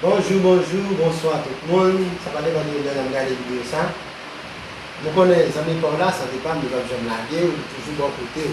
Bonjou bonjou bonswa tout moun sa pa depan de lè nap gade video sa nou konnen zanmi paw la sante pam li pap janm lagew li toujou bò kotew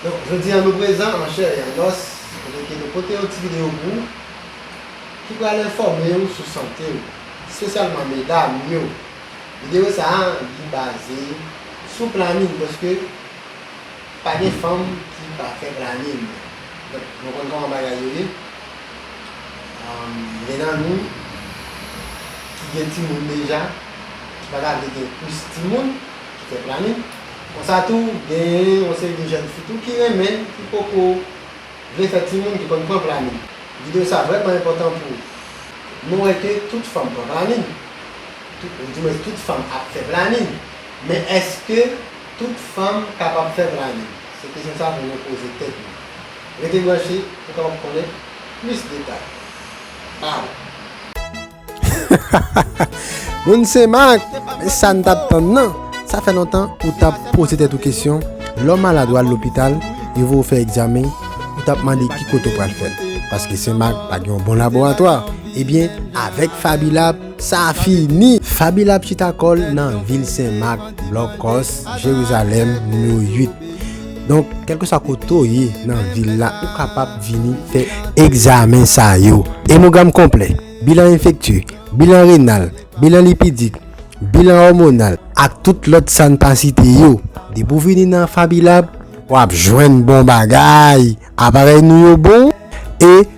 donk jodi an nou prezan an chè e an nòs kote ke nou pote yon ti video pou ou ki pral enfòmew sou santew spesyalman medam yo video sa li baze sou planin paske Pa gen fanm ki pa fè planin. Donk nou konn kòman bagay yo ye. Gen nan nou ki gen timoun deja, ki pa ta vle gen plis timoun, ki fè planin. Konsa tou, gen yon seri de jèn fi tou ki renmen, ki poko vle fè timoun, ki konn pran planin. Videyo sa vrèman enpòtan pou nou wè ke tout fanm pran planin. Di mwen tout fanm ap fè planin. Men èske. Tout fanm kapab fè planin? Se kesyon sa pou nou poze tèt nou. Rete branche pou kapab konnen plis detay. Baww. Moun senmak e sa n tap tann nan sa fè lontan ou tap poze tèt ou kesyon lè w malad wal lopital yo voye w fè egzamen ou tap mande ki kote w pral fèl paske senmak pa gen yon bon laboratwa ebyen avèk fabilab Sa fini! Fabila ap chita kò l nan vil Sen Mak, Blòk Kòs, Jerizalèm, nimewo 8. Donk, kèlkeswa kote w ye nan vil la, ou kapab vini fè egzamen sa yo, Emogram konplè, bilan enfektye, bilan renal, bilan lipidik, bilan òmonal ak tout lòt sa n pa site yo. Depi w vini nan Fabilab, w ap jwenn bon bagay, aparèy nou yo bon e.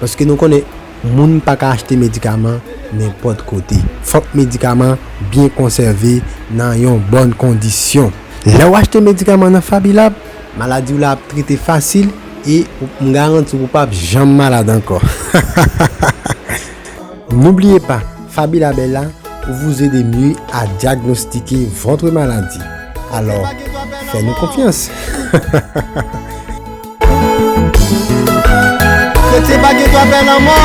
Paske nou konnen moun pa ka achte medikaman nenpòt kote. Fòk medikaman byen konsève nan yon bòn kondisyon. Lè ou achte medikaman nan Fabilab, maladi w la ap trete fasil e m garanti w ou pap janm malad ankò. N'oubliez pas, Fabilab est là pour vous aider mieux à diagnostiquer votre maladie. Alors, faites-nous confiance! Kretyen pa gen dwa pè lanmò.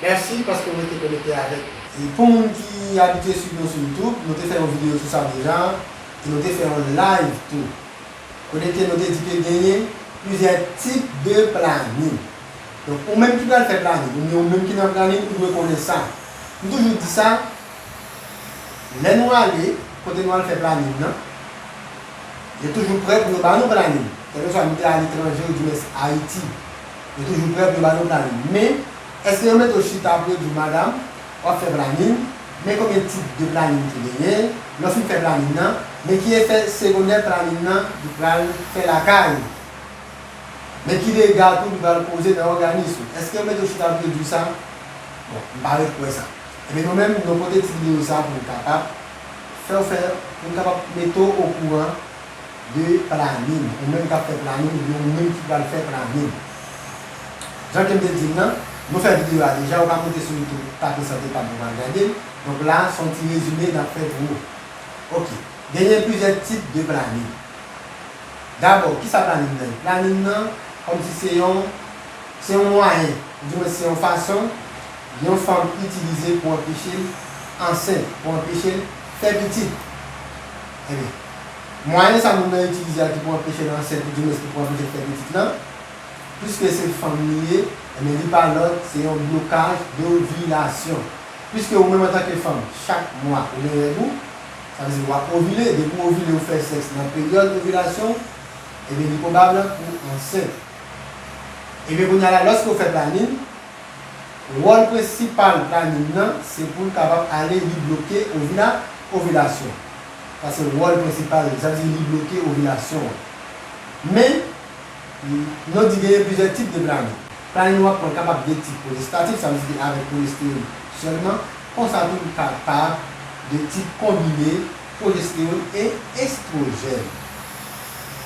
Merci paske w rete konekte avèk nou. E pou moun ki abitye swiv nou sou youtube, nou te fè yon video sou sa deja, e nou te fè yon live tou. Kote ke nou te di ke genyen plizyè tip de planin. Donk ou menm ki pral fè planin, oubyen ou menm ki nan planin ou dwe konnen sa. M toujou di sa. Lè nou ale kote nou al fè planin nan, yo toujou prè pou yo ba nou planin. Kèlkeswa nou te aletranje oudimens Ayiti, yo toujou prè pou yo ba nou planin. Men, èske yo mete w chita pou yo di w, Madam, w ap fè planin, men konbyen tip de planin ki genyen? Lè w fin fè planin nan, men ki efè segondè planin nan li pral fè lakay ou? Men ki dega tou li pral koze nan òganis ou? Èske yo mete w chita pou yo di w sa? Bon, m pa ret kwè sa. Ebyen nou menm nou pote ti video sa pou nou kapab fèw fè pou nou kapab metew okouran de planin ou menm kap fè planin oubyen ou menm ki pral fè planin Jan kem te dil lan nou fè video a deja ou ka moute sou youtube tape sante pam pou wal gadel donk la son ti rezime nap fè pou ou ok genyen plizyè tip de planin dabò kisa planin nan ye planin nan kòmsi se yon Se yon mwayen, oudimwens se yon fason, yon fanm itilize pou anpeche l ansent, pou anpeche l fè pitit. Enben, mwayen sa moun nan itilize a ki pou anpeche l ansent oudimwens ki pou anpeche l fè pitit lan, piske se fanm li ye, enben li pa lòt, se yon blokaj dovilasyon. Piske ou menm antanke fanm, chak mwa ou gen règ ou, sa vle di w ap ovile, depi w ovile ou fè sèks nan peryòd ovilasyon w, enben li pwobab pou ansent. Ebyen kounya la lòske w fè planin, wòl prensipal planin nan se poul kapab ale li bloke ovila ovilasyon. Sa se wòl prensipal li, sa vle di li bloke ovilasyon an. Men, nou di genyen plizyè tip de planin. Planin wap pran kapab de tip pwojestatif, sa vle di li avèk pwojestewon sèlman, konsa tou li kapab de tip konbine pwojestewon e estwojèn.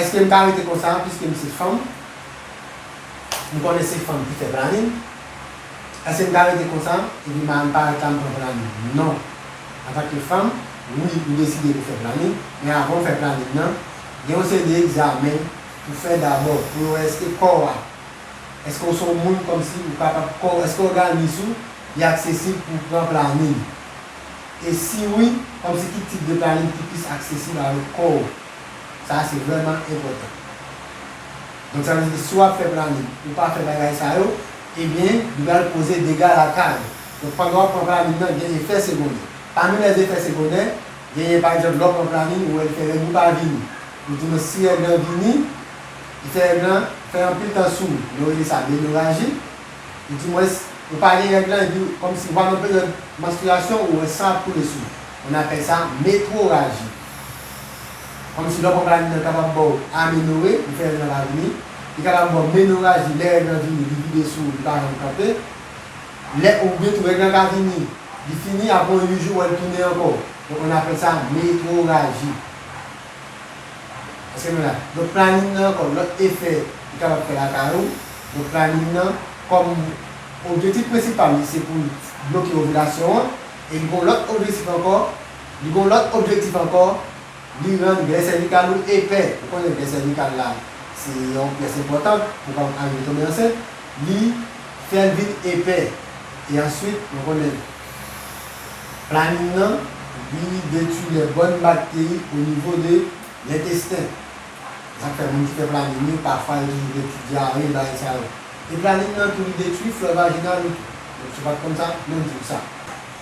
Eske m ka rete konsa a piske m se fanm? M konnen se fanm ki fè planin. Eske m ka rete konsa epi madanm parèt la m pran planin? Non. Antanke fanm, wi ou deside pou fè planin, men avan ou fè planin nan, gen yon seri de egzamen pou fè dabò pou yo wè eske kò ou a, eske ou se yon moun kòmsi ou kapab, kò ou, eske òganis ou li aksesib pou pran planin. E si wi, kòmsi ki tip de planin ki plis aksesib avèk kò ou? Sa a se vrèman enpòtan. Donk sa vle di si w ap fè planin, ou pa fè bagay sa yo, ebyen li pral koze dega lakay ou. Donk pandan w ap pran planin nan, gen efè segondè. Pami lè efè segondè, genyen pa egzanp lè w pran planin, ou wè li fè règ ou pa vini. Ou di non si règ lan vini, efè règ lan fè anpil tan sou ou. Nou rele sa menoraji. e di mwens ou pa gen règ lan epi kòmsi ou pa nan peryòd manstriyasyon ou wè san ap koule sou ou on apèl sa metroraji kòmsi lò pòp la vini nan kapab baw amenore li fè règ lan pa vini li kapab baw menoraji lè règ lan vini li vide sou ou li pa janm kanpe lè ou byen tou règ lan ka vini li fini apre on 8 jou ou wèl tounen ankò donk on apèl sa metroraji. Eske nou la? Donk planin nan kòm lòt efè li kapab fè lakay ou, donk planin nan kòm objetif prensipal li se pou l bloke ovilasyon an e li gon lòt objesif ankò, li gon lòt objektif ankò, li rann glè sèvikal ou epè, ou konnen glè sèvikal la se yon pyès enpòtan pou pa arive tonbe ansent, li fè l vin epè e answit nou konnen. Planin nan vini detui lè bòn bakteri o nivo de lentesten. Se sa k fè moun ki fè planin yo pafwa yo toujou gen ti dyare bagay sa yo. E planin nan tou li detui flò vajinal ou tou. Donk si w pa t konn sa, menm di w sa.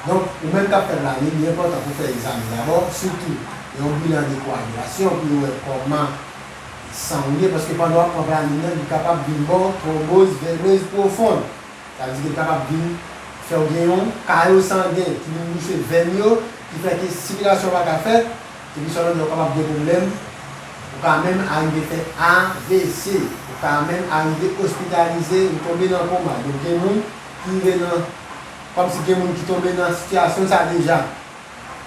Donk ou menm k ap fè planin li enpòtan pou w fè egzamen dabò sitou yon bilan de koagilasyon pou yo wè kòman san w ye paske pandan w ap pran planin nan li kapab vin ba w twonboz venez pwofon. Sa vle di ke l kapab vin fè w gen yon kayo sangen ki vin bouche venn yo, ki fè ke sikilasyon pa ka fèt, epi swa lòt lè ou kapab gen pwoblèm, ou ka menm arive fè avc, ou ka menm arive ospitalize ou tonbe nan koma. Donk gen moun ki rive nan, kòm si gen moun ki tonbe nan sitiyasyon sa deja.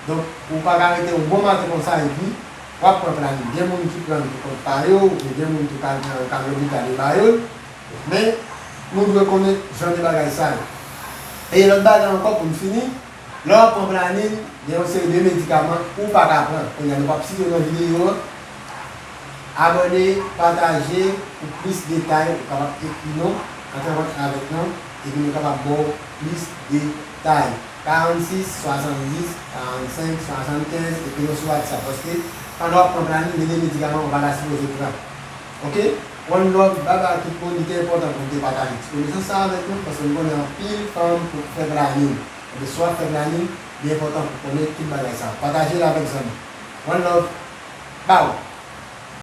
Donk ou pa ka rete yon bon maten konsa epi w ap pran planin. Gen moun ki pran l pou kont pa yo, oubyen gen moun tou ka gen yo ka lopital yo ba yo l. Men, nou dwe konnen jan de bagay sa yo. E lòt bagay ankò pou n fini, lè w ap pran planin, gen yon seri de medikaman ou pa ka pran. Kounye a nou p ap site yo nan videyo an. Abòne, pataje pou plis detay. Ou kapab ekri nou, antre an kontak avèk nou, epi nou kapab ba w plis detay. 46 70 45 75, ekri nou sou WhatsApp. Paske, pandan w ap pran planin, gen de medikaman ou pa ta sipoze pran. Ok one love bye bye tout moun li te enpòtan pou m te pataje ti konesans sa avèk nou paske m konnen anpil fanm pou fè planin ebyen si wap fè planin li enpòtan pou konnen tout bagay sa pataje l avèk zanmi one love baww.